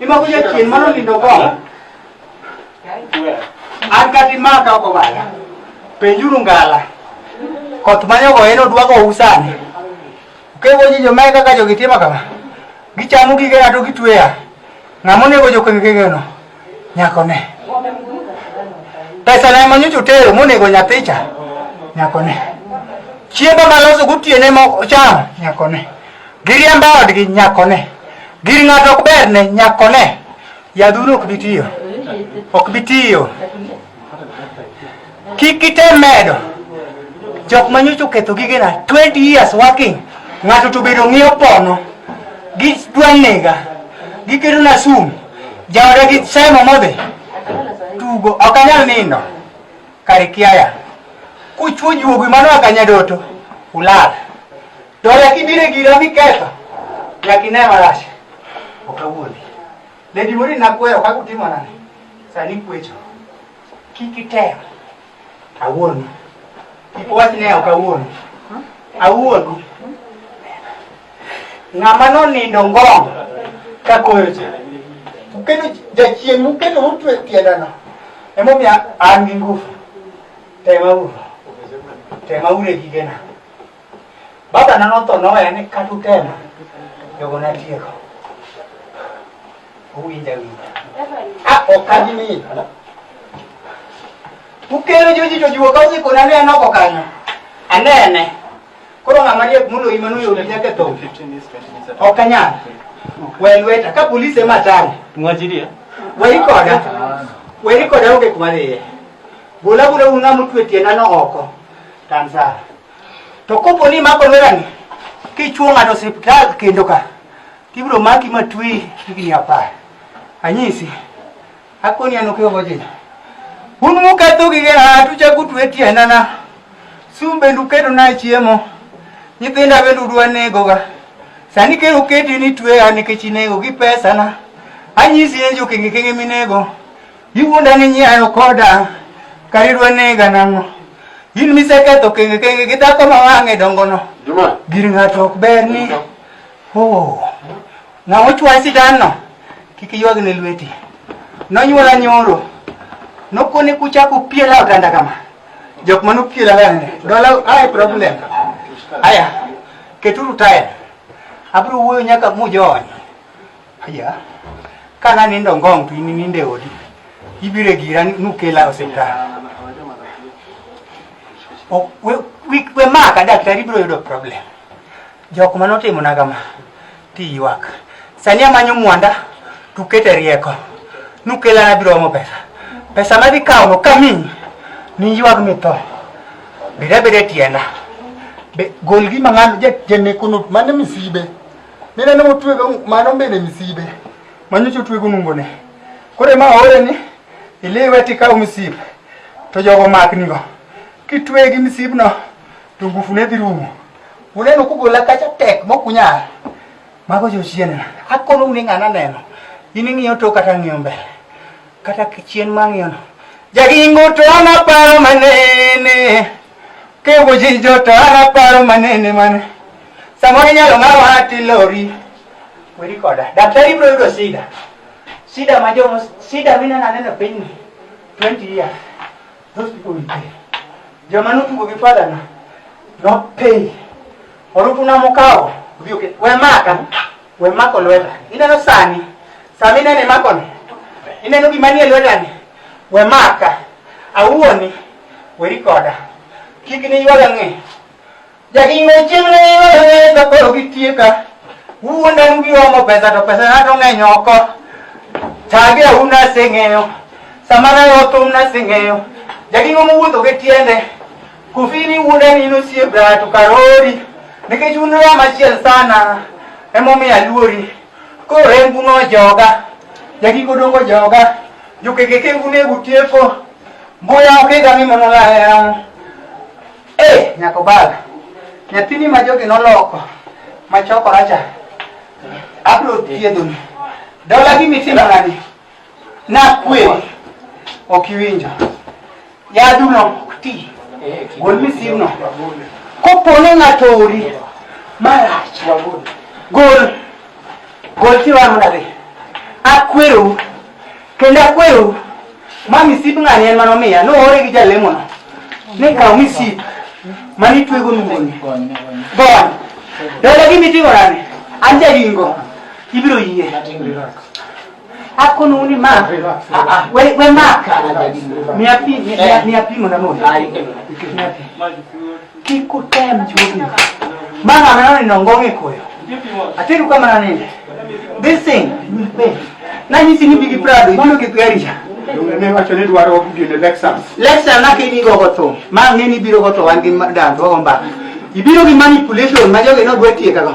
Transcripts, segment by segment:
Imako ja chien mano lindo go. An kati maka oko bala. Penjuru ngala. Koth manyo go eno dwago usani. Kego ji jo meka ka jo gitima kama. Gichamu gige ato gitweya. Ngamo nego jo kengege no. Nyako ne. Pesa na manyo chutero monego nyathicha. Nyako ne. Chiemba maloso gutiene mo cham. Nyako ne. Giriembo odgi nyakone. Gir ng'ato ok ber ne nyakone. Yadhuru ok bi tiyo. Ok bi tiyo. Kik item medo. Jok ma nyocha oketho gigena 20 years working. Ng'ato to bedo ng'iyo pono. Gidwa nega. Giketo na sum. Jaoda gi semo modhi. Tugo ok anyal nindo. Karikiaya. Kuchwo juogi mano akanyadoto. Ulala. To nyaka ibire gira miketho, nyaka ine marach. Ok awuondi. Lady Morin nakweyo kaka utimo nade? Sani kwecho. Kik item. Awuondi. Kik wach ni ok awuondi. Awuondi. Ng'ama nonindo ngong' ka koyo cha. Uketo jachien muketo mutwe tiendano. Emomiyo an gi ngufu. Tema uru. Tema uru e gigena. Baba na notho noweya ni kata utema jogo natieko. Uwinja winja. Ah, ok adimi. Ukero joji to jiwo ka osikona ne anoko kanyo. Anene. Koro ng'ama riek moloyi mano yot nyaka e tho. Ok anyal. We lweta ka polisi ema tang'. Mwachilia. Weri koda. Weri koda onge kuma dhiye. Bola bola un ng'ama otwe tiendano oko. Tansa. To kopo ni imako lerani kichuo ng'ato osiptal kendo ka tibiro maki matwi higni apar. Anyisi akoni an okewo jina. Un muketho gige ng'ato uchako utwe tiendana. Sum bende uketo na chiemo. Nyithinda bende udwa negoga. Sani kendo uketi ni tweya nikech inego gi pesana. Anyisi en jokenge kenge minego. Igunda ni nyayo koda karirwa nega nang'o in miseketho kenge kenge gi dhako ma wang'e dongono Juma, gir ng'ato ok ber ni oh, ng'ama ochwaye sidanno kik iywagne lweti nonyuola nyoro nokone kuchako piela otanda kama jok mane opiela gane dola ae problem aya keturu taya abiro wuoyo nyaka mujony Aya, ka nanindo ngong' to in inindo e odi, ibiro e gira nukela e osiptal. We maka daktari biro yudo problem. Jok ma notimona kama tiywak. Sani amanyo mwanda tukete rieko nukela nabiro omo pesa. Pesa madhi kawono kamiyi niywag mitho. Beda beda e tienda. Gol gima ng'ano janekono mane misibe. Mine ne otwega mano mbele misibe. Manyocha otwego nungone. Kore ma ore ni iliwe tikaw misib to jogo maknigo. Kitwegi misibno to ngufu ne dhi rumo. Uneno kugola kacha tek mokunyal. Mago jochienena. Akono une ng'ana neno. In ing'iyo to kata ng'iyo mbele. kata kichien mang'yono jagingo to an aparo manene kewo jinjo to an aparo manene mane samoro inyalo ng'awa tilori weri koda daktari ibiro yudo sida sida ma jomo sida mineno aneno e pinyni 20 years those people will pay joma notugo gi fadhana nopay orutuna mokawo odhi oket we maka We mako lweta. Ineno sani. Sama inene mako ni. Ineno gima nie lweta ni. We maka. Awuoni. Weri koda. Kik ni ywaga ng'e. Jakingo chieng' ne ywaga ng'e ka koro gitieka. Wuonda en giomo pesa to pesa na to ng'eny oko. Tage awu naseng'eyo. Sama nayo thum naseng'eyo. Jakingo mowuotho gi tiende. Kufini wuodani in osiep to karori nikech un rama achiel sana emomiyo aluori koro rengu nojoga jagiko dongo joga jokekeke unego tieko mbuya okega mi mono layang e nyako bala nyathini ma jogi noloko ma chokoracha abiro thiedhoni dola gi mitimo nani Nakwe. Ok iwinjo. Yaduno ok ti. Gol misimno. Kopo ni ng'ato ori marach. Gol. Gol tiwang' nadhi. Akwero. Kendo akwero. Ma misip ng'ani en manomiya. Noore gi jalemono. Ni kaw misip. Mani twego nungoni. Gon. Dole gimiting'o nani? An jaringo. Ibiro yie. Ako nuni ma. Ah, ah. We we ma. Mi api mi eh. mi api mo na mo. Ah, Kiko tem chupi. Mama mama ni nongonge koyo. Atiru kama na nini? This thing will pay. Na nyisi ni bigi prado, ibiro kikuyarisha. Ne wacho ni dwaro gine Lexus. Lexus na kini go goto. Ma ngeni biro goto wan gi dan to gomba. Ibiro gi manipulation ma jogi no dwe tieka go.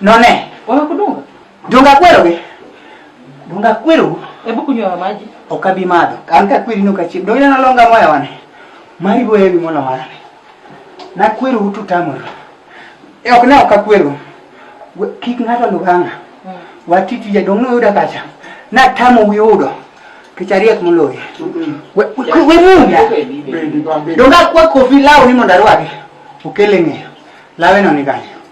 None. Wewe kudunga? Dunga kwero ge. Dunga kwero. Hebu kunywa maji. Okabi madho. Kanka kwiri nuka chip. Doina na longa moya wane. Mari boye bi mona wane. Na kwero utu tamoro. E ok na okakwero. Kik ng'ato luganga. Hmm. Watiti jadong' noyuda kacha. Na tamo wi udo. Kichariek moloye. Hmm. We munga. Donga kwa kofi lawo ni mondo arwake. Okele ng'eyo. Lawe no ni kanyo.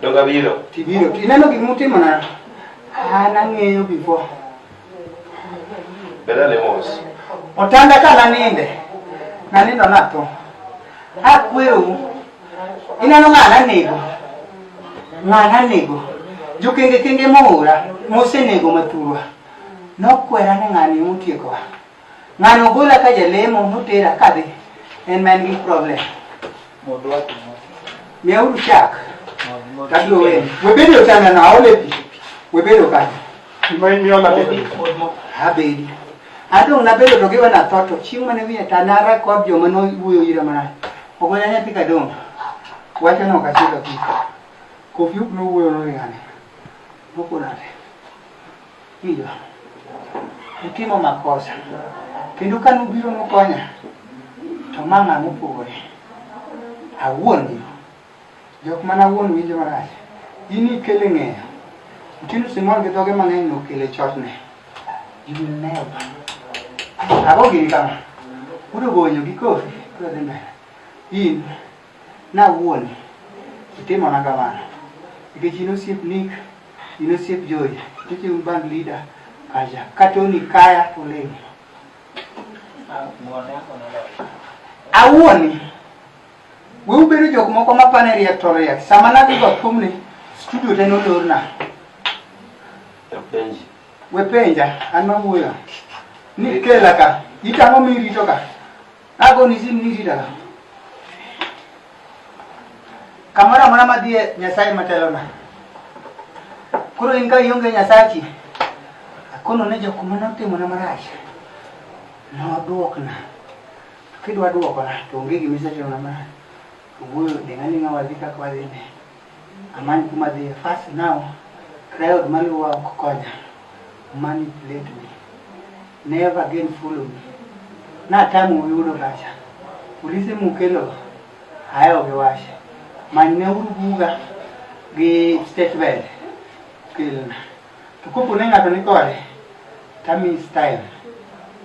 Donge abiro? Tibiro. Ineno gik mutimo na? An ang'eyo before. Beda ne mos. Otanda ka naninde. Nanindo natho. Akwero. Ineno ng'a nanego? Ng'a nanego? Jokenge kenge moora. Mosenego mathurwa. Nokwera ni ng'ani motiekowa. Ng'ano ogola ka jalemo notera ka be en ma en gi problem. Miya uru chak. Kabiro wewe. Webedo ochanda na aole pi. Webedo kanyo. Gima imiyo na bedo. Abedi. Adong' nabedo to giwe na tho to chieng' mane wiye ta nara kod joma nowuoyo ira marach. Ogola nyathi kadong'. Wacho no kachiko kiko. Kofi uk nowuoyo nori ng'ane. Nokonade. Iyo, utimo makosa. Kendo ka nubiro nukonya, to ma ng'a mopogore. Awuon yo. Jok mana awuon winjo marach. In ikele ng'eyo. Mtindo Simon gi dhoge mang'eny nokele chotne. You will never. Ago gini kama. Udogonyo gi kofi. Udogonyo. In. Nawuon, itimona kamano. Nikech in osiep Nick, in osiep Joy, nikech un band leader kacha. Ka Tony kaya to olem. Awuon, we ubedo jok moko ma pane riek to riek. Sama nadhi go thumni, studio te nolorna. Penji. We penja, an mawuoyo. Nikela ka, itang'o mirito ka. Agoni ji mni rita. Kamoro amora madhie Nyasaye matelona. Koro in ka ionge Nyasachi, akono ne jok ma notimona marach, nodwokna. Kidwa dwokona, to onge gima isetimona marach. Wuoyo, ding' ading'a wadhi kaka wadhini. Amany kuma adhiye first now crowd maluwa ok konya manipulate me never again follow me natamo yudo kacha polise mukelo ayo giwache manyne uru buga gi state bed kelna to kopo ne ng'ato ni kode tami style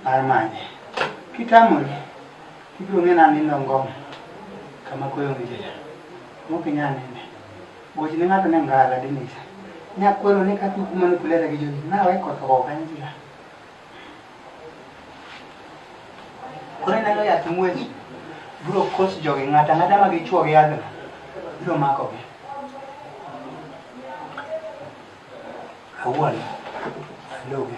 mar manye kitamori Ibiro ng'e na nindo ngoma kama koyo ngijela. Moki nya nene. Gochi ne ng'ato ne ngala dinisa. Nya kwelo ne kati kuma ni kulera gi jogi. Na weko to ko kanjila. Kore neno ya tumweji. Bro kos jogi ng'ata ng'ata ma gichuo gi adho. Biro mako gi. Awuon. Logi.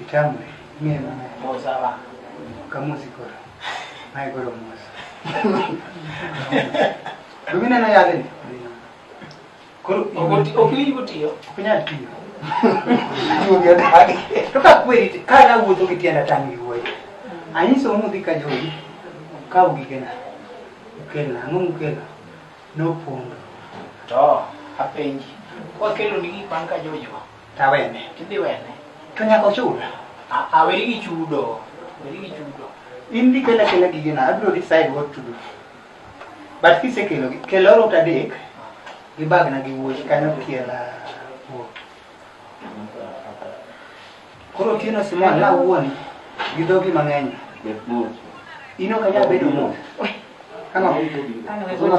Itamwe, mie mama. Moza ba. Kamuzi kora. Mai kora moza. Lumina na yale ni. Kuru okoti okiri kutiyo. Kunya tiyo. Tuyo dadi. Toka kweli kala wuto kitiana tangi woy. Anyiso mu dika jogi. Ka ugikena. Ukena, angu ukena. No pondo. To, apenji. Kwa kelo ni gik man ka jojo. Tawene. Tidhi wene. To nyaka ochul. A- a, weri gi chudo. Weri gi chudo. In dhi kela kela gigena, abiro decide what to do. But kisekelogi, kel orot adek gi bagna gi wuoyi kanyo kiela wuok. Koro otieno Simon na wuon gi dhogi mang'eny. In ok anyal bedo ruoth. Ang'o? Ang'o?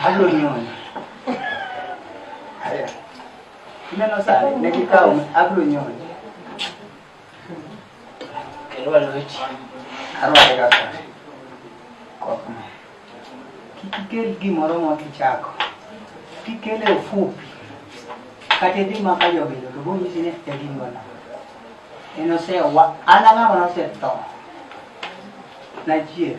Ablonyonya. Haya. Neno sana nikikao ablonyonya. Kelwa lochi. Arwa kaka. Kwa kuma. Kikel gimoro mwa kichako. Kikele ufupi. Kate di maka jogi to bo nyisi ne tegi ngona. Eno se wa ananga wana se to. Na jie.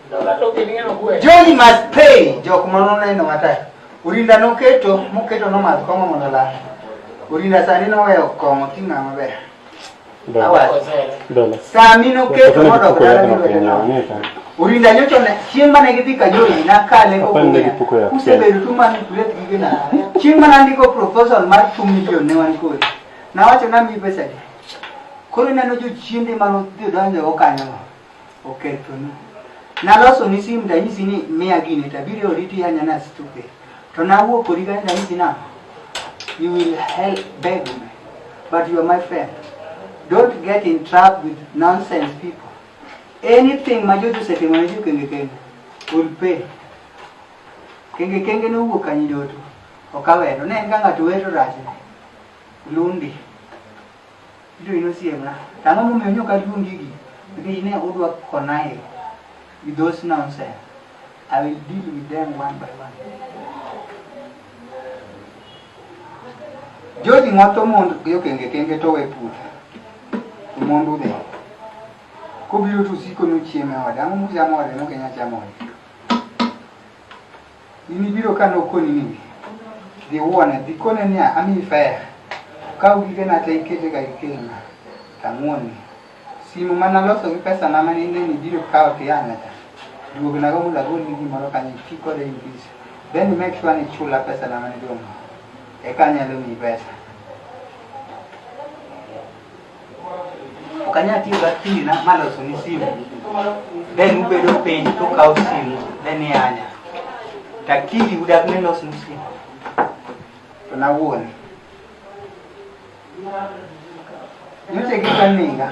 Jogi must pay jok ma noneno mata. Urinda noketo, moketo nomadh kong'o mondo olal. Urinda sani noweyo kong'o ting'a maber. Dola. Sami noketo modok dala gi lwete nono. Urinda nyocha ne chieng' mane gidhi Kajoli nakale kokuya. Usebedo tu man kulet gige na. Chieng' mane andiko proposal mar 2 million ne wan kodi. Nawacho nami pesa di. Koro ineno jochiende mane odhi donjo go kanyo. okethonu. Naloso ni sim danyisi ni miya gini tabiri oriti anya na stupid. To nawuok kodi kanyo danyisi na you will help beg me but you are my friend. Don't get in trap with nonsense people. Anything ma jojo setimo ne jo kenge kenge will pay. Kenge kenge nowuok kanyi doto okawero ne en ka ng'ato wero rachne lundi Ijoin osiepna, to ang'o momiyo nyok aluong gigi? Nikech ne udwa konae with those nonsense. I will deal with them one by one. Joji ng'oto mond gi okenge kenge to we puothe. Omondu dhe. Kobiro to usiko nuchieme ode. Ang'o muchamo ode mok inyal chamo ode? In ibiro ka nokoni ni dhi wuone, dhi kone niya, amiyi fedha, kaw gigena te ikete ka ikelna, to ang'wonni. Simu ma naloso gi pesana ma ne ineno ibiro kawo to ia nyacha, duognago mondo agolni gimoro kanyo iti kode in peace. Then you make sure ni ichula pesana ma nidwong'no, eka anyalo miyi pesa. Ok anyal tiyo gakina maloso ni simu. Then ubedo piny to ukawo simu then ianya. To akili udak ni los ni simu. To nawuone. Nyocha gika niga.